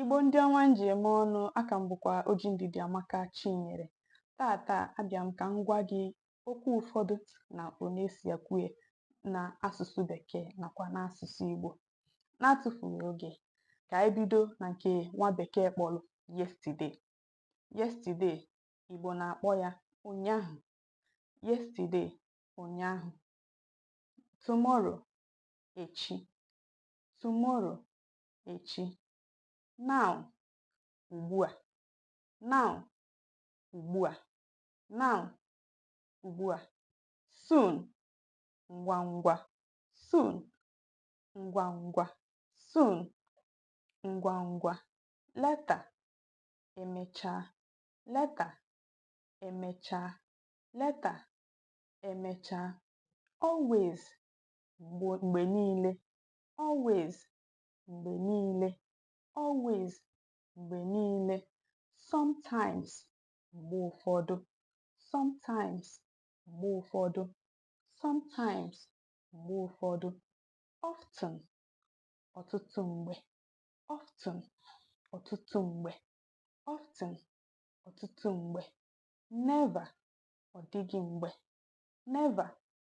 Igbo ndị ọma m ji eme ọnụ a ka m bụkwa Oji Ndidiamaka Chinyere tata abịa m ka m gwa gị okwu ụfọdụ na mkpo na-esi ekwu ya na asụsụ bekee nakwa n'asụsụ Igbo na-atụfughị oge ka anyị bido na nke nwa bekee kpọrọ yesterday yesterday Igbo na-akpọ ya ụnyaahụ yesterday ụnyaahụ tomorrow echi tomorrow echi now ugbu a now ugbu a now ugbu a soon ngwa ngwa soon ngwa ngwa soon ngwa ngwa later emechaa later emechaa later emechaa always mgbe niile always mgbe niile always mgbe niile sometimes mgbe ụfọdụ sometimes mgbe ụfọdụ sometimes mgbe ụfọdụ often ọtụtụ mgbe often ọtụtụ mgbe often ọtụtụ mgbe never ọ dịghị mgbe never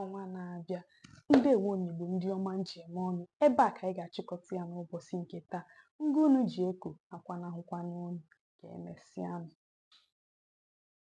ọnwa na-abịa ndewo nụ Igbo ndị ọma m ji eme ọnụ ebe a ka anyị ga-achịkọta ya n'ụbọchị nke taa ngụ unu ji eko akwanahụkwana unu ka emesịa